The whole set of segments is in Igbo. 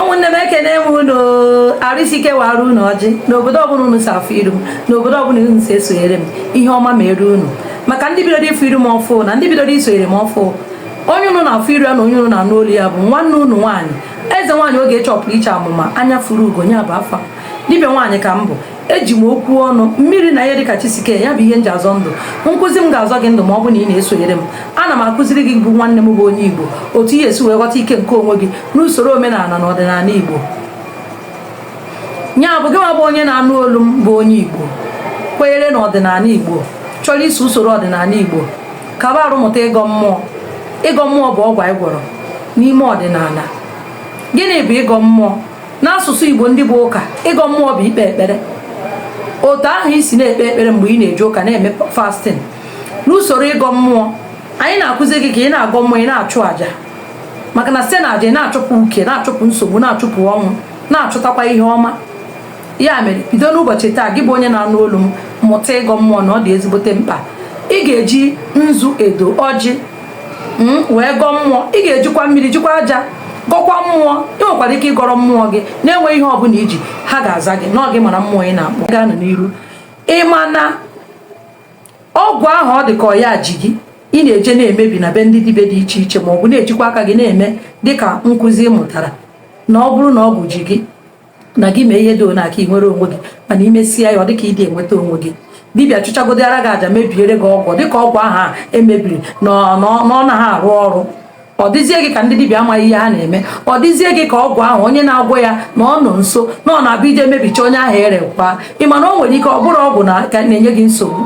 ụmụnne m ekene m unu arụsike wara unu ọjị n'obodo ọbụla unu si afụ iru m n'obodo ọbụla unu si esonyere m ihe ọma meere unu maka ndị bidoro ịfụ iru m ọfụ na ndị bidoro isonyere m ọfụ onye unu na-afụ iru ya na onye unu na-anụ olu ya bụ nwanne unu nwaanyị eze nwaanyị oge chọpụrụ iche amụma anya fụrụ ugo nya bụ afa dibịa nwaanyị ka m bụ eji m okwu ọnụ mmiri na ihe dịka chi si kee ya bụ ihe m ji azọ ndụ nkụzi m ga-azọ gị ndụ ma ọ bụ na ị na-esonyere m ana m akụziri gị bụ nwanne m bụ onye igbo otu ị ya-esi wee ghọta ike nke onwe gị n'usoro omenala na ọdịnala igbo nya bụ gị nwa bụ onye na-anụ olu m bụ onye igbo kwenyere na ọdịnala igbo chọrọ iso usoro ọdịnala igbo kaba arụ mụta ịgọ mmụọ ịgọ mmụọ bụ ọgwụ anyị gwọrọ n'ime ọdịnala gịnị bụ ịgọ mmụọ n'asụsụ igbo ndị bụ ụka ịgọ mmụọ bụ ikpe ekpere otu ahụ ị si na-ekpe ekpere mgbe ị na-eje ụka na-eme fasting n'usoro ịgọ mmụọ anyị na-akụzi gị ka ị na-agọ mmụọ ị na-achụ aja maka na site na aja ị na-achụpụ uke na-achụpụ nsogbu na-achụpụ ọnwụ na-achụtakwa ihe ọma ya mere bido n'ụbọchị taa gị bụ onye na-anụ olu m mụta ịgọ mmụọ na ọ dị ezigbote mkpa ị ga-eji nzu edo ọjị hmm, wee gọọ mmụọ ị ga-ejikwa mmiri jikwa aja gọkwa mmụọ ị nwekwara ike ịgọrọ mmụọ gị na-enweghị ihe ọbụla i ji ha ga-aza gị na ọ gị mara mmụọ ị na-akpọ gaanụ n'iru ị ma na ọgwụ ahụ ọ dị ka ọ ya ji gị ị na-eje na-emebi na be ndị dibịa dị iche iche ma ọ bụ na-ejikwa aka gị na-eme dịka nkụzi ị mụtara na ọ bụrụ na ọgwụ ji gị na gị mee ihe dị one aka ị nwere onwe gị mana ị mesịa ya ọ dịka ị dị enweta onwe gị dibịa chụchagodịara gị aja mebiere gị ọgwụ dịka ọgwụ ahụ e mebiri na ọ naghị arụ ọrụ ọ dịzie gị ka ndị dibịa amaghị ihe ha na-eme ọ dịzie gị ka ọgwụ ahụ onye na-agwọ ya na ọ nọ nso na ọ na-abụ ị je mebicha onye ahụ erekwa ị ma na o nwere ike ọ bụrụ ọgwụ na ka na-enye gị nsogbu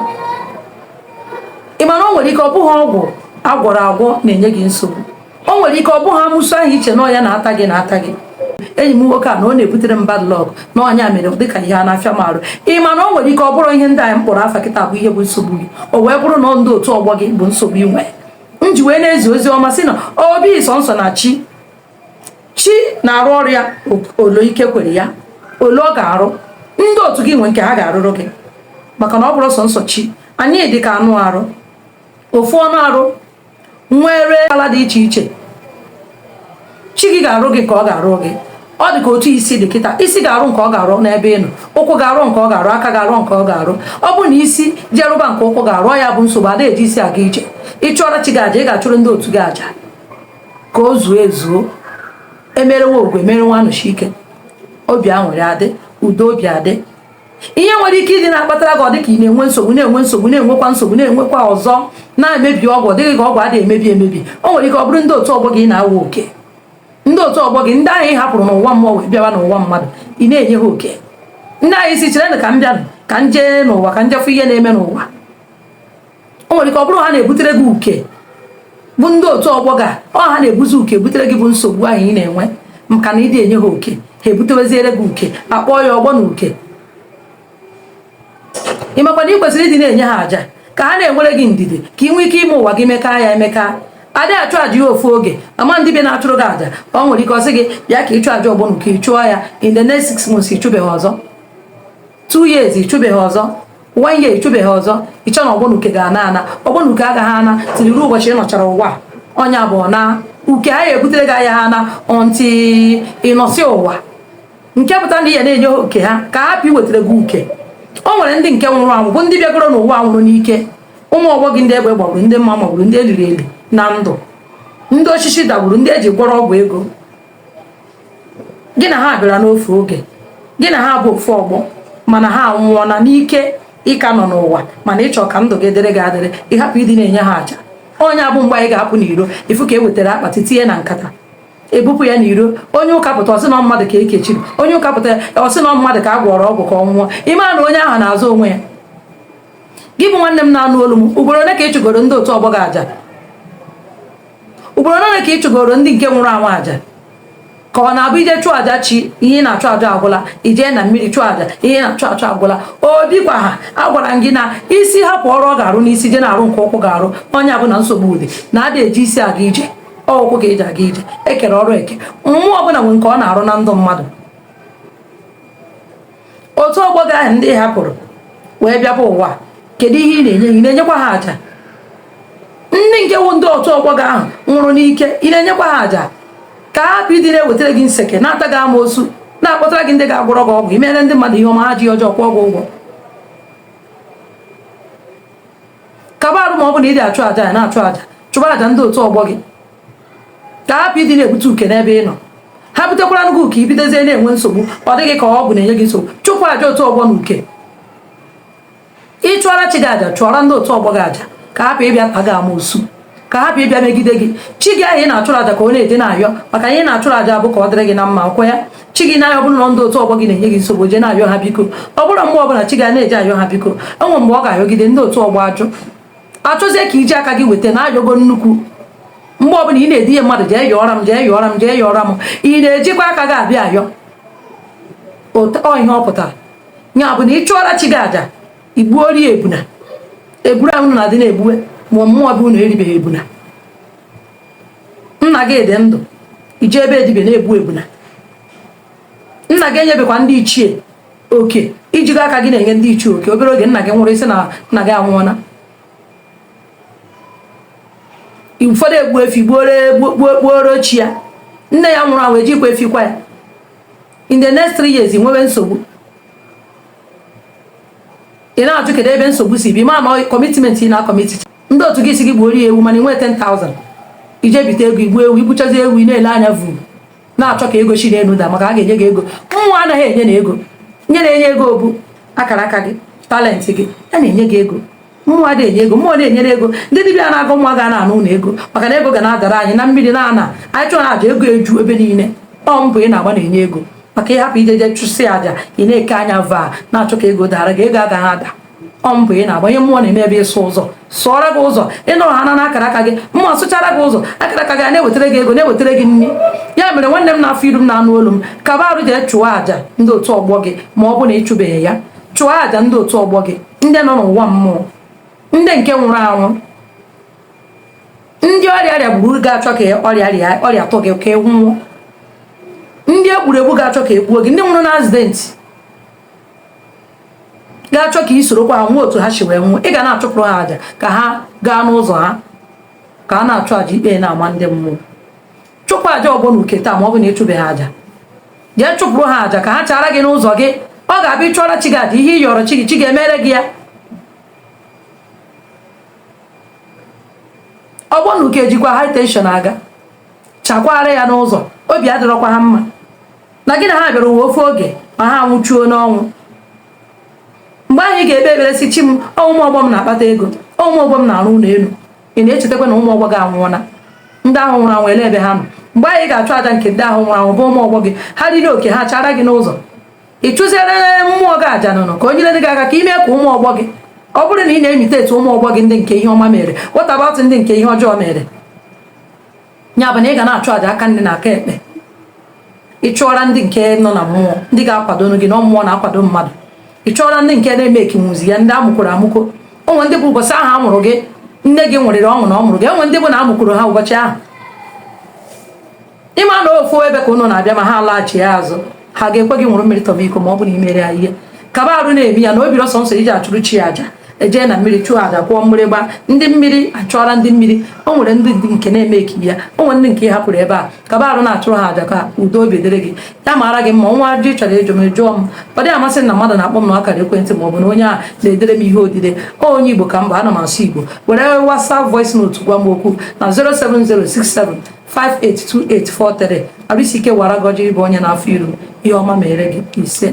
ị ma na o nwere ike ọ bụghị ọgwụ a gwọrọ agwọ na-enye gị nsogbu o nwere ike ọ bụghị amusu ahụ i che na ọ ya na-ata gị na-ata gị enyi m nwoke a na ọ na-ebutere m bad luck na ọ nya mere dịka ihe a na-afịa m arụ ị ma na o nwere ike ọ bụrụ ihe ndị anyị kpọrọ afa kịta bụ ihe bụ nsogbu gị o wee bụrụ na ndị otu ọgbọ gị bụ nsogbu ị nwere m ji wee na-ezi ozi ọma sị na ọ bụghị sọnsọ na chi chi na-arụ ọrụ ya ole ike kwere ya ole ọ ga-arụ ndị otu gị nwe nke ha ga-arụrụ gị maka na ọ bụrụ sọnsọ chi anyị dị ka anụ arụ ofu anụ arụ nwere ala dị iche iche chi gị ga-arụ gị nke ọ ga-arụ gị ọ dị ka otu isi dị kịta isi ga-arụ nke ọ ga-arụ n'ebe ị nọ ụkwụ ga-arụ nke ọ ga-arụ aka ga-arụ nke ọ ga-arụ ọ bụ na isi je rụba nke ụkwụ ga-arụ ya bụ nsogbu a da eji isi aga ije ị chụọra chi gị aja ị ga-achụrụ ndị otu gị aja ka o zuo ezuo e mere nwa ogwugwu e mere nwa anosike obi aṅụrị adị udo obi adị ihe nwere ike ịdị na-akpatara gị ọ dịka ị na-enwe nsogbu na-enwe nsogbu na-enwekwa nsogbu na-enwekwa ọzọ na-emebi ọgwụ ọ dị gị ka ọgwụ ada emebi emebi o nwere ike ọ bụrụ ndị otu ọgbọ gị na-awa oke ndị otu ọgbọ gị ndị ahụ ị hapụrụ n'ụwa mmụọ wee bịawa n'ụwa mmadụ ị na-enye ha oke ndị ahụ ị sị chere ka m bịanụ ka m jee n'ụwa ka m je fụ ihe na-eme n'ụwa o nwere ike ọ bụrụ ha na-ebutere gị uke bụ ndị otu ọgbọ gị ọ ha na-ebuzi uke butere gị bụ nsogbu ahụ ị na-enwe maka na ị dị enye ha oke ha ebuteweziere gị uke a kpọọ ya ọgbọ na uke ị makwa na ị kwesịrị ịdị na-enye ha aja ka ha na-enwere gị ndidi ka ị nwee ike ime ụwa gị mekaa ya emekaa adị achụ aja ya ofu oge ama dibịa na-achụrụ gị aja o nwere ike ọ sị gị bịa ka ị chụọ aja ọgbọnuke ị chụọ ya in the next six months ị chụbeghị ọzọ two years ị chụbeghị ọzọ one year ị chụbeghị ọzọ i che na ọgbọnuke ga-ana ana ọgbọnuke agaghị ana till ruo ụbọchị ị nọchara ụwa ọ nya bụ na uke ahụ e butere gị agaghị ana until ị nọsị ụwa nke pụta na ị ya na-enye oke ha ka hapụ iwetara gị uke o nwere ndị nke nwụrụ anwụ bụ ndị bịagoro n'ụwa nwụrụ n'ike ụmụ ọgbọ gị ndị egbe gbagburu ndị mma magburu ndị e liri eli na ndụ ndị osisi dagburu ndị e ji gwọrọ ọgwụ ego gị na ha bịara n'ofu oge gị na ha bụ ofu ọgbọ mana ha anwụọla n'ike ị ka nọ n'ụwa mana ị chọọ ka ndụ gị dịrị gị adịrị ị hapụ ịdị na-enye ha aja ọ nya bụ mgbe ahụ ị ga-apụ n'iro ị fụ ka e wetara akpati tinye na nkata ebupụ ya n'iro onye ụka pụta ọ sị na mmadụ ka e kechiri onye ụka pụta ọ sị na mmadụ ka a gwọrọ ọgwụ ka ọ nwụọ ị mara na onye ahụ na-azọ onwe ya gị bụ nwanne m na-anụ olu m ugboro ole ka ị chụgoro ndị otu ọgbọ gị aja ugboro ole ka ị chụgoro ndị nke nwụrụ anwụ aja ka ọ na-abụ i jee chụọ aja chi ihe na-achụ aja agwụla i jee na mmiri chụọ aja ihe na-achụ achụ agwụla ọ dịkwa ha agwara m gị na isi hapụ ọrụ ọ ga-arụ n'isi je na-arụ nke ụkwụ ga-arụ ọ nya bụ na nsogbu dị na adị eji isi aga ije ọ ụkwụ ka e ji aga ije e kere ọrụ eke mmụọ ọbụla nwere nke ọ na-arụ na ndụ mmadụ otu ọgbọ gị ahụ ndị ị hapụrụ wee bịaba ụwa kedu ihe ị na-enye ị na-enyekwa ha aja ndị nke wụ ndị otu ọgbọ gị ahụ nwụrụ n'ike ị na-enyekwa ha aja ka hapụ ịdị na-ewetara gị nseke na-ata gị amoosu na-akpọtara gị ndị ga-agwọrọ gị ọgwụ i mere ndị mmadụ ihe ọma ha ji ọjọọ kwụọ gị ụgwọ kaba arụ ma ọ bụ na ị dị achụ aja ya na-achụ aja chụba aja ndị otu ọgbọ gị ka hapụ ịdị na-ebute uke n'ebe ị nọ ha butekwara gị uke i bidozie na-enwe nsogbu ọ dị gị ka ọgwụ na-enye gị nsogbu chụpụ aja otu ọgbọ na uke ị chụọra chi gị aja chụọra ndị otu ọgbọ gị aja ka hapụ ịbịa ta gị amoosu ka hapụ ịbịa megide gị chi gị ahụ ị na-achụrụ aja ka ọ na-eje na-ayọ maka ihe ị na-achụrụ aja bụ ka ọ dịrị gị na mma ọ kwa ya chi gị na-ayọ ọ bụrụ na ndị otu ọgbọ gị na-enye gị nsogbu jee na-ayọ ha biko ọ bụrụ mgbe ọbụla chi gị na-eje ayọ ha biko e nwee mgbe ọ ga-ayọgide ndị otu ọgbọ ajụ achọzie ka iji aka gị weta na ayọgo nnukwu mgbe ọbụla ị na-edinye mmadụ jee yọọra m jee yọọra m jee yọọra m ị na-ejikwa aka gị abịa ayọ ọ ihe ọ pụtara ya bụ na ị chụọra chi gị aja igbuoro ya ebuna eburu ahụ na-adị na-egbuwe ma mmụọ be unu eribeghị ebuna nna gị dị ndụ ije ebe dibịa na-egbu ebuna nna gị enyebekwa ndị ichie oke ijigo aka gị na-enye ndị ichie oke obere oge nna gị nwụrụ isi na nna gị anwụọla ụfọdụ egbu efi gbuoro chi ya nne ya nwụrụ anwụ ejikwa efi kwa ya in the next three years ị nwebe nsogbu ị na-ajụ kedu ebe nsogbu si bịa mana commitment ị na-akọmiti ndị otu gị si gị gbuoro ya ewu mana ị nwee 10,000 ije bite ego igbu ewu igbuchazi ewu ị na-ele anya vuu na-achọ ka ego si n'elu daa maka a ga-enye gị ego mmụọ anaghị enye na ego ihe na-enye ego bụ akara aka gị talenti gị ya na-enye gị ego mmụọ adịghị enye ego mmụọ na-enyere ego ndị dibịa na-agụ nwa ga na-arụ ụlọ ego maka na ego ga na-adara anyị na mmiri na ana anyị chụọ aja ego eju ebe niile ọ mbọ ị na-agba na-enye ego maka ịhapụ ijeje chụsị aja ị na-eke anya vaa na-achọ ka ego dara gị ego agaghị ada ọ mbọ ị na-agba ihe mmụọ na-eme bụ ịsụ ụzọ sụọrọ gị ụzọ ịnọrọ ha na akara aka gị mmụọ sụchara gị ụzọ akara aka gị a na-ewetara gị ego na-ewetara gị nri ya mere nwanne m na-afụ iru m na-anụ olu m kaba arụ jee chụọ àjà ndị otu ọgbọ gị ma ọ bụ na ịchụbeghị ya chụọ àjà ndị otu ọgbọ gị ndị nọ n'ụwa mmụọ ndị nke nwụrụ anwụ ndị ọrịa rịa gburu ga-achọ ka ọrịa rịa ọrịa tụ gị ka ị nwụọ ndị e gburu egbu ga-achọ ka egbuo gị ndị nwụrụ na accident ga-achọ ka i sorokwa ha nwụọ otu ha si wee nwụọ ị ga na-achụpụrụ ha aja ka ha gaa n'ụzọ ha ka a na-achụ aja ikpe na-ama ndị mmụọ chụpụ aja ọgbọ na uke taa ma ọ bụ na ịchụbeghị aja jee chụpụrụ ha aja ka ha chara gị n'ụzọ gị ọ ga-abụ ị chụọra chi gị aja ihe ị yọrọ chi gị chi gị emere gị ya ọgbọ na uke jikwa high tension a ga-achakwara ya n'ụzọ obi adịrọkwa ha mma na gị na ha bịara ụwa ofu oge ma ha nwụchuo n'ọnwụ mgbe ahụ ị ga-ekpe ekpere si chi m ụmụ ọgbọ m na-akpata ego ụmụ ọgbọ m na-arụ ụlọ elu ị na-echetakwa na ụmụ ọgbọ gị anwụọla ndị ahụ nwụrụ anwụ olee ebe ha nọ mgbe anyị ga-achụ aja nke ndị ahụ nwụrụ anwụ bụ ụmụ ọgbọ gị ha riri oke ha chara gị n'ụzọ ị chụziere mmụọ gị aja nụnụ ka o nyere gị aka ka ime ka ụmụ ọgbọ gị ọ bụrụ na ị na-emite etu ụmụ ọgbọ gị ndị nke ihe ọma mere what about ndị nke ihe ọjọọ mere ya bụ na ị ga na-achụ aja aka nri na aka ekpe ị chụọra ndị nke nọ na mmụọ ndị ga-akwado gị na mmụọ na-akwado mmadụ ị chụọra ndị nke na-eme ekinwuzi ya ndị amụkworo amụkwo onwe ndị bụ ụbọchị ahụ a mụrụ gị nne gị ṅụrịrị ọṅụ na ọ mụrụ gị onwe ndị bụ na amụkworo ha ụbọchị ahụ ịma na ofu ebe ka ụnụ na-abịa ma ha alaghachi azụ ha ga-ekwe gị ṅụrụ mmiri tọba iko ma ọ bụ na i mere ya ihe kaba arụ na-eme ya na obi ọsọ nsọ iji achụrụ chi aja ejee na mmiri chụọ aja kụọ mgbịrịgba ndị mmiri achụọra ndị mmiri o nwere ndị nke na-eme eki ya o nwere ndị nke ị hapụrụ ebe a kaba arụ na-achụrụ ha aja ka udo obi dịrị gị ya mara gị mma nwee ajụjụ ị chọrọ ịjụ m jụọ m ọ dịghị amasị na mmadụ na-akpọ m na akara ekwentị ma ọ bụ na onye a na-edere m ihe odide onye igbo ka m bụ ana m asụ igbo were WhatsApp voice note gwa m okwu na 07067 582843 Arụsị ike wara gọ ọjị ị bụ onye na-afụ iru ihe ọma mere gị isee